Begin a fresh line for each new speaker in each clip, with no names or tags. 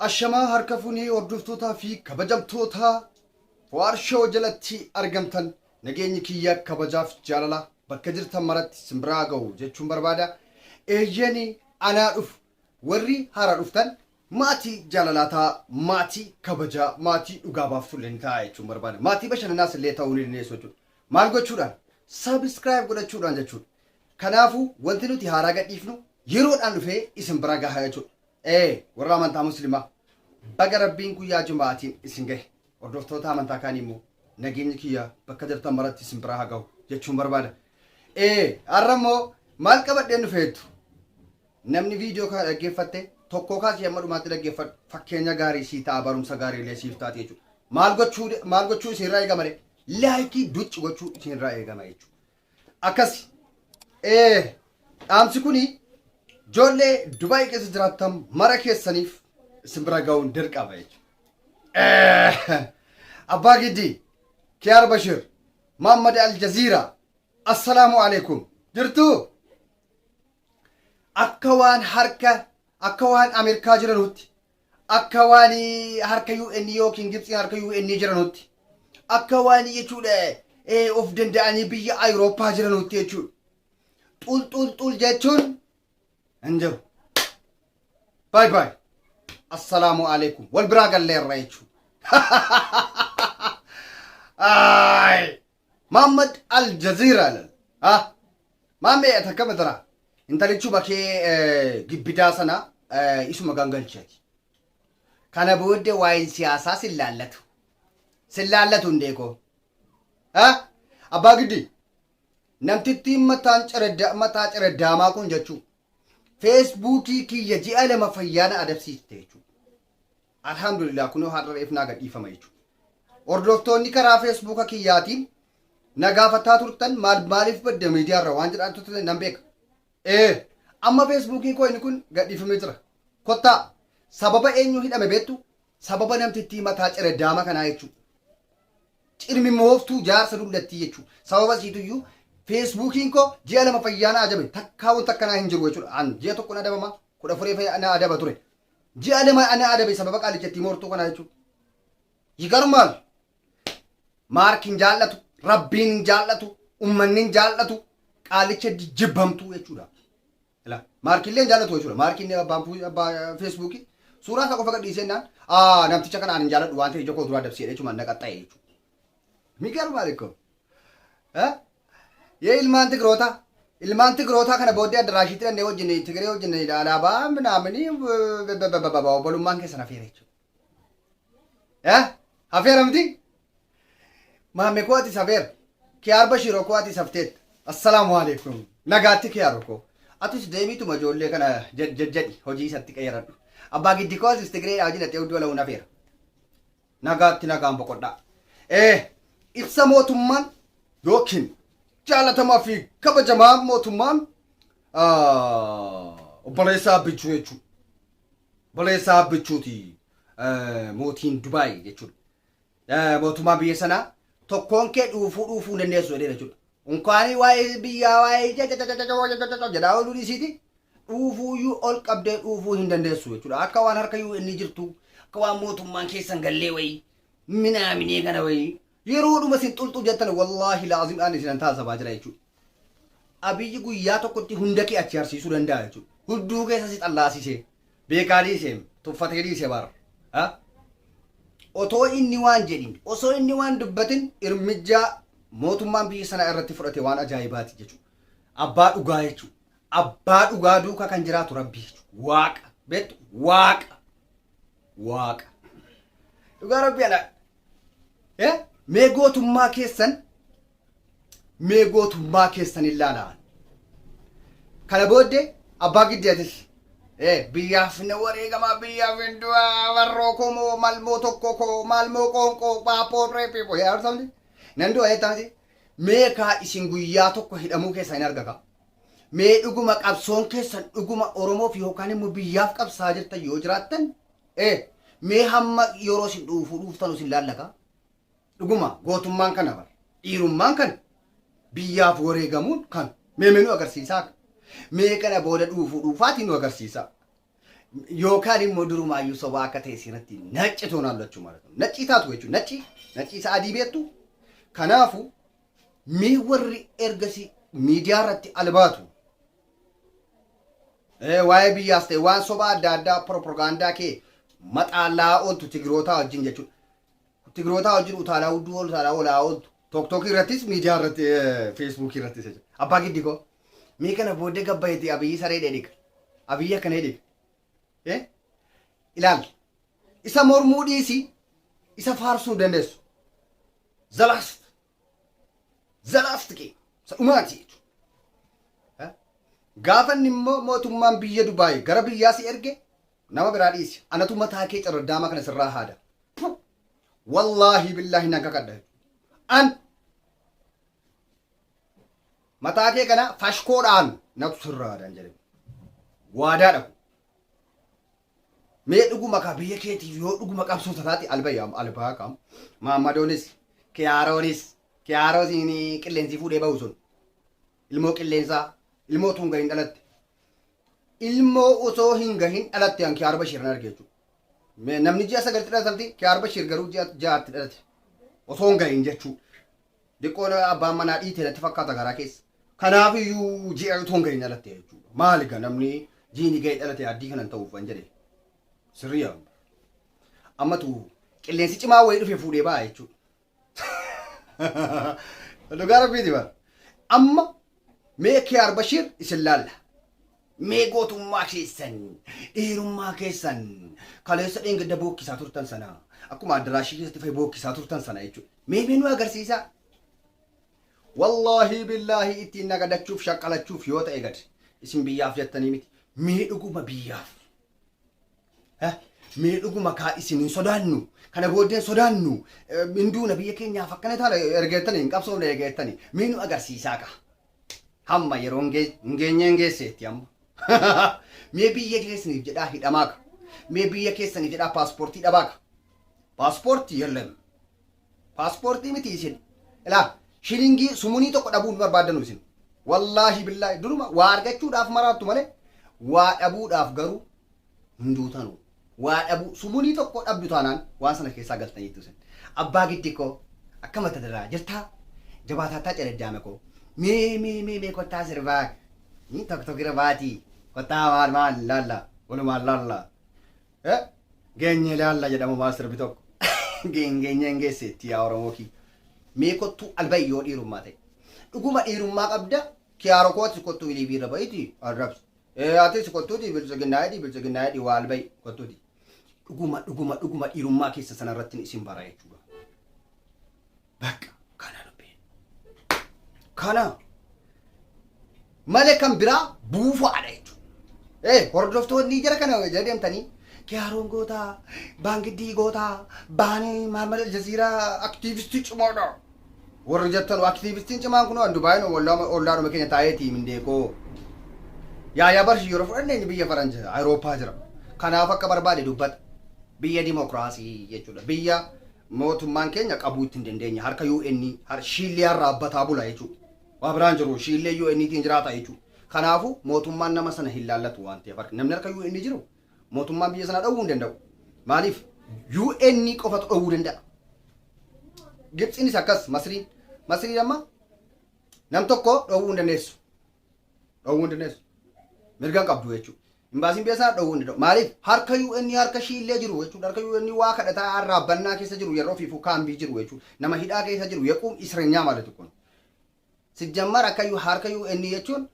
Ashamaa harka funee hordoftootaa fi kabajamtoota Waarshaw jalatti argamtan nageenyi kiyya kabajaaf jaalala bakka jirtan maratti simbiraa ga'u jechuun barbaada. Eeyyeen anaa dhufu Warri haaraa dhuftan maatii jaalalaa ta'aa, maatii kabajaa, maatii dhugaa baaftulle ni ta'aa jechuun barbaada. Maatii bashannanaas illee ta'uu ni dandeessu jechuudha. Maal gochuudhaan? Subscribe godhachuudhaan jechuudha. Kanaafuu wanti nuti haaraa gadhiifnu yeroodhaan dhufee isin bira gaha jechuudha. Ee warra amantaa muslimaa baga rabbiin guyyaa juma'aatiin isin gahe. Hordoftoota amantaa kaanii immoo nageenyi kiyya bakka jirtan maratti isin biraa haa gahu jechuun barbaada. Ee har'a immoo maal qabadheen dhufe jettu? Namni video kana dhaggeeffatte tokkoo kaasii hamma dhumaatti dhaggeeffadhu fakkeenya gaarii sii ta'a barumsa gaarii illee siif taati jechuudha. Maal gochuu maal gochuu isiirraa eegama ree? Laayikii ducci gochuu isiirraa eegama jechuudha. Akkasi ee dhaamsi kuni ijoollee Dubaay keessa jiraattan mara keessaniif isin bira ga'uun dirqama jechuudha. Abbaa Giddii, Kiyaar Bashir, Maammad Aljaziiraa, Assalaamu alaikum. Jirtuu? akka waan harka akka waan Ameerikaa jiranutti akka waan harka UN yookiin Gibxiin harka UN jiranutti akka waan jechuudha eh, of danda'anii biyya Awurooppaa jiranutti jechuudha. Xul xul xul jechuun hin jiru. Baay baay. Assalaamu alaikum. Wal biraa galleerra jechuudha. Aay. Mahammad Al Jazeera lal. Ha. Maammee ati akkama tara. Intalichu bakee gibbidaa sana isuma gangalchati. Kana booddee waa'een siyaasaa sin laallatu. Sin laallatu hundee koo. Ha. Abbaa giddi. Namtittiin mataan ciradda mataa ciraddaamaa kun jechuu. Feesbuukii kiyya ji'a lama fayyaana adabsiiste jechuudha. Alhamdulillah kunoo har'a reef naa gadhiifama jechuudha. Hordoftoonni karaa feesbuuka kiyyaatiin na gaafataa turtan maal maaliif badda miidiyaarra waan jedhaa turtan nan beeka. Ee amma feesbuukiin koo inni kun gadhiifamee jira. Kottaa sababa eenyu hidhame beektu sababa namtittii mataa cereddaama kanaa jechuudha. Cirmimmooftuu jaarsa dullattii jechuudha. Sababa isiituyyuu feesbuukiin koo ji'a lama fayyaa na ajabe takkaa wanta akkanaa hin jiru jechuudha. An ji'a tokko na adabama kudha afurii na adaba ture. Ji'a lama ani adabe sababa qaalicha ittiin hortuu kanaa jechuudha. Yigarmaal. Maarki hin jaallatu, rabbiin hin jaallatu, ummanni hin jaallatu, qaalicha jibbamtuu jechuudha. Ila maarki illee hin jaallatu jechuudha. Maarki inni abbaan fu- abbaa feesbuukii suuraa isaa qofa gadhiisee naan aa namticha kana ani hin jaalladhu waan ta'e ija koo duraa dabsee jechuudha na qaxxa'e jechuudha. Migarmaal ikkoo. Yee ilmaan Tigrootaa. Ilmaan Tigrootaa kana booddee addaraashiitti dhannee wajjin Tigree wajjin alaabaa minaaminii obbolummaan keessan hafeera jechuudha. Hafeera miti? Maammee koo ati safeera. Kiyaar Bashiiroo koo ati safteetta. Assalaamu alaikum. Nagaatti kiyaaroo koo. Atis deemiituma ijoollee kana jajjadhi hojii isatti qeeradhu. Abbaa giddi koo asis Tigree dhaajin ati hudduu alahuun hafeera. Nagaatti nagaan boqodhaa. Ee, ibsa mootummaan yookiin jaalatamaa fi kabajamaa mootummaan ah, obboleessaa abbichuu jechuudha. Obboleessaa abbichuuti eh, mootiin Dubaay jechuudha. Eh, Mootummaa biyya sanaa tokkoon kee dhuufuu dhuufuu hin dandeessu jedhee jechuudha. Unkaanii waa'ee biyyaa waa'ee jedhaa ooluu dhiisiiti dhuufuuyyuu ol qabdee dhuufuu hin dandeessu jechuudha. Akka waan harka UN jirtu, akka waan mootummaan keessan gallee wayii, minaaminee kana wayii. Yeroodhuma isin xulxuu jettan wallaahi laazim ani isinan taasifaa jira jechuudha. Abiyyi guyyaa tokkotti hunda kee achi harsiisuu danda'a jechuudha. Hudduu keessa si xallaasisee, beekaa dhiisee, tuffatee dhiisee bara. Ha? Otoo inni waan jedhin, osoo inni waan dubbatin irmijjaa mootummaan biyya sanaa irratti fudhate waan ajaa'ibaati jechuudha. Abbaa dhugaa jechuudha. abbaa dhugaa duuka kan jiraatu rabbii jechuudha. Waaqa. Beektu? Waaqa. Waaqa. Dhugaa rabbii ala. Eh? Mee gootummaa keessan mee gootummaa keessan ilaalaa. Kana booddee abbaa giddiyatis eh, biyyaaf na wareegamaa biyyaaf hin du'aa warroo koo moo malmoo tokko koo malmoo qoonqoo paappoo reeppii yaa arsamti nan du'a jettamti Mee kaa isin guyyaa tokko hidhamuu keessan hin arga kaa. Mee dhuguma qabsoon keessan dhuguma Oromoof yookaan immoo biyyaaf qabsaa jirtan yoo jiraattan ee mee hamma yeroo isin dhuufuu dhuuftan isin laalla kaa. Dhuguma gootummaan kana bar dhiirummaan kana biyyaaf wareegamuun kan mee mee nu agarsiisaa akka. Mee kana booda dhuufuu dhuufaatiin nu agarsiisaa. yookaan immoo durumaayyuu sobaa akka ta'e siratti nacci toon hallachuu maalatu naccii taatu jechuun nacci naccii isa adii beektu kanaafu mee warri ergasii miidiyaa irratti albaatu Eh, waa'ee biyyaas ta'e waan sobaa adda addaa piropagandaa kee maxaallaa ooltu tigirootaa wajjin jechuudha. Tigrootaa wajjin utaalaa hudduu ol utaalaa olaa ooltu. Tok tok irrattis miidiyaa irratti feesbuukii irratti isa jira. Abbaa giddi koo. Mee kana booddee gabbayeeti abiyyi saree dheedhiga. Abiyyi akka dheedhiga. Eh? Ilaali. Isa mormuu dhiisi isa faarsuu hin dandeessu. Zalaast. Zalaast kee. Isa dhumaati jechuudha. Eh? Gaafa inni immoo mootummaan biyya Dubaay gara biyyaa si erge Nama biraa dhiisi anatu mataa kee carraddaamaa kana sirraa haada. Pu! Wallaahi billaahi nan kakadha. An mataa kee kana fashkoodhaan natu sirraa haadaan jedhe. Waadaa dhabu. Mee dhuguma kaa biyya keetiif yoo dhuguma qabsoo tataati albayaam albaa kaam. Maammadoonis kiyaaroonis kiyaaroo siin qilleensi fuudhee bahu sun. Ilmoo qilleensaa, ilmoo utuu hin gahin dhalatte. Ilmoo osoo hin gahin dhalatte an Kiyaar Bashiir nan arge jechuudha. Me- Namni ji'a sagalti dhalatamti Kiyaar Bashiir garuu ji'a ja'atti dhalate. Osoo hin gahin jechuu. Diqqoon abbaan manaa dhiite natti fakkaata garaa keessa. Kanaaf iyyuu ji'a utuu hin gahin dhalatte jechuudha. Maali ga namni jiini gahee dhalate addii kanan ta'uuf an jedhe. Sirrii amma. Ammatu qilleensi cimaa wayii dhufe fuudhee ba'a jechuudha. Dhugaa rabbiiti bara. Amma mee Kiyaar Bashiir isin laalla. Mee gootummaa keessan, dhiirummaa keessan, kaleessa dheengadda bookkisaa turtan sana, akkuma addaraashii keessatti fa'i bookkisaa turtan sana jechuudha. Mee mee nu agarsiisaa. Wallaahi billaahi ittiin nagadachuuf shaqqalachuuf yoo ta'e gad isin biyyaaf jettanii miti. Mee dhuguma biyyaaf. Mee dhuguma kaa isin hin sodaannu kana booddee hin sodaannu hinduuna biyya keenyaaf akkana taana ergeettani hin qabsoofne ergeettani mee nu agarsiisaa kaa hamma yeroo hin geenye hin geesseetti amma mee biyya keessaniif jedhaa hidhamaa ka mee biyya keessaniif jedhaa paaspoortii dhabaa ka paaspoortii yellam Pasportii miti isin ilaa shilingii sumunii tokko dhabuu hin barbaaddanu isin wallaahi billaahi duruma waa argachuudhaaf maraattu malee waa dhabuudhaaf garuu hin duutanu waa dhabuu sumunii tokko dhabdu taanaan waan sana keessaa galtaniittu isin abbaa giddi koo akka mata daraa jirtaa jabaataattaa cereddaame koo mee mee mee mee kottaa sirbaa tokko tokkira baatii kottaa maal maal laalla walumaan laalla Eh, geenyee laalla jedhamu maal sirbi tokko. Geenyeen geesseetti yaa Oromoo kiyya. Mee kottuu alba'i yoo dhiirummaa ta'e. Dhuguma dhiirummaa qabda kiyaaro kootis kottuu iliibii irra ba'iti arrabsi. Eh, atis kottuuti biltsiginnaa hidhi biltsiginnaa hidhi waa alba'i kottuuti. Dhuguma dhuguma dhuguma dhiirummaa keessa sana irratti isin bara jechuudha. Bakka kana dubbiin. Kana malee kan biraa buufaadha jechuudha. Ee hordoftoonni jara kana jala deemtanii kiyaaroon gootaa, baangiddii gootaa, baanii Mahammad Aljaziiraa aktiivistii cimaadha. Warri jettan aktiivistiin cimaan kun waan Dubaayin ollaadhuma keenya taa'eeti mindeekoo. Yaayaa barshi yeroo fudhanne inni biyya faranji Awurooppaa jira. Kanaaf akka barbaade dubbata. Biyya dimokiraasii jechuudha. Biyya Mootummaan keenya qabuu itti hin dandeenye harka UN har shiilliyaa irraa abbataa bula jechuu waa biraan jiru shiillee UN tiin jiraata jechuu kanaafu mootummaan nama sana hin laallatu waan ta'eef harka namni harka UN jiru mootummaan biyya sana dhowwuu hin danda'u maaliif UN qofatu dhowwuu danda'a Gibtsiinis akkas Masriin Masriin amma nam tokko dhowwuu hin dandeessu dhowwuu hin dandeessu mirga hin qabdu jechuu Imbaasiin biyya isaa dhowwuu hin danda'u. Maaliif? Harka UN harka ishii illee jiru jechuudha. Harka UN waa kadhataa arraa bannaa keessa jiru yeroo fiifuu kaambii jiru jechuudha. Nama hidhaa keessa jiru yequum isrenyaa maalitu kun. Sijjammar akka harka UN jechuun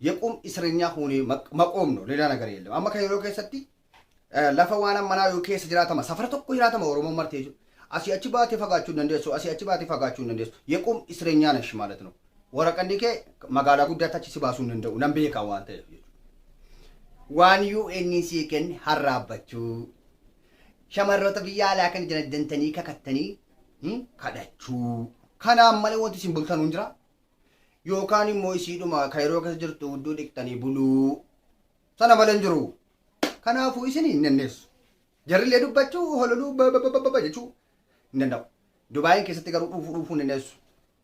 yequum isrenyaa kuunii maqoom no leelaa nagara yeellam. Amma kan yeroo keessatti lafa waan ammanaa yoo keessa jiraatama safara tokko jiraatama Oromoo marti jechuudha. Asii achi baatee fagaachuu hin dandeessu. Asii achi baatee fagaachuu hin dandeessu. Yequum isrenyaa nash maalitu no. Waraqanni kee magaalaa guddaatti achi si baasuu hin danda'u nan beekaa waan ta'eef jechuudha. Waan UN sii kenne harraabbachuu, shamarroota biyya alaa kana jala dantanii kakattanii hmm, kadhachuu. Kanaan malee wanti isin bultanuu hin jira. Yookaan immoo isiidhuma kayroo keessa jirtu hudduu dhiqxanii buluu. Sana malee hin jiru. Kanaafuu isin hin dandeessu. Jarrillee dubbachuu, hololuu, bababababa jechuu hin danda'u. Dubaayin keessatti garuu dhuufuu dhuufuu hin dandeessu.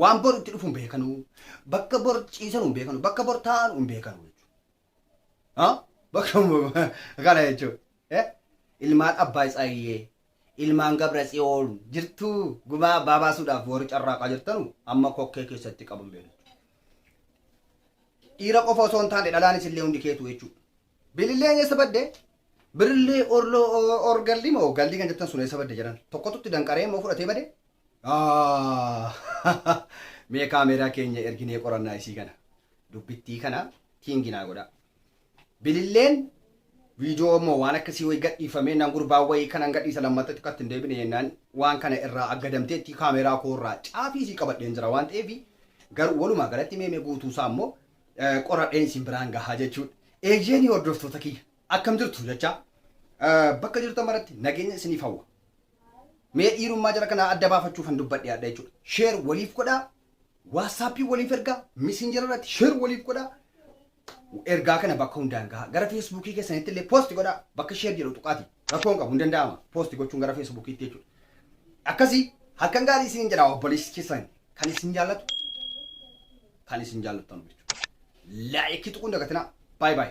Waan bor itti dhufu hin beekanu. Bakka bor ciisanu hin beekanu. Bakka bor taa'anu hin beekanu jechuudha. Bakka kana jechuudha. Eh? Ilmaan Abbaa Isaayyee, ilmaan Gabra Tsiyoon jirtuu gumaa abbaa baasuudhaaf warri carraaqaa jirtanu amma kokkee keessatti qaban beeku. Dhiira qofa osoo hin taane dhalaanis illee hundi keetu jechuudha. Bililleen eessa badde? Birllee orlo or galli moo galli kan jettan sun eessa badde jaran tokkotu itti danqaree immoo fudhatee bade Aahh mee kaameeraa keenya erginee qorannaa isii kana dubbittii kana tiingi naa godhaa bililleen viidiyoo immoo waan akkasii wayii gadhiifamee nan gurbaa wayii kanan gadhiisa lammatta xiqqatti hin deebine jennaan waan kana irraa aggadamteetti kaameeraa koo irraa caafii isii qabadheen jira waan ta'eef garuu walumaa galatti meemee guutuu isaa immoo qoradheen isin biraan gahaa jechuudha. Eeyyeenii hordoftoota kiyya akkam jirtu jechaa bakka jirtan maratti nageenya isiniif hawwa. Mee dhiirummaa jara kanaa adda baafachuuf kan dubbadhe adda jechuudha. Sheer waliif godhaa, waatsaappii waliif ergaa, misinjara irratti sheer waliif godhaa. Ergaa kana bakka hundaan gahaa. Gara feesbuukii keessanitti illee poosti godhaa. Bakka sheer jedhu tuqaati. Rakkoo hin qabu hin danda'ama. Poosti gochuun gara feesbuukiitti jechuudha. Akkasii halkan gaarii isiniin jedha obboleessi keessan Kan isin jaallatu kan isin jaallattan jechuudha. Laayikii tuquu hin dagatinaa. Baay baay.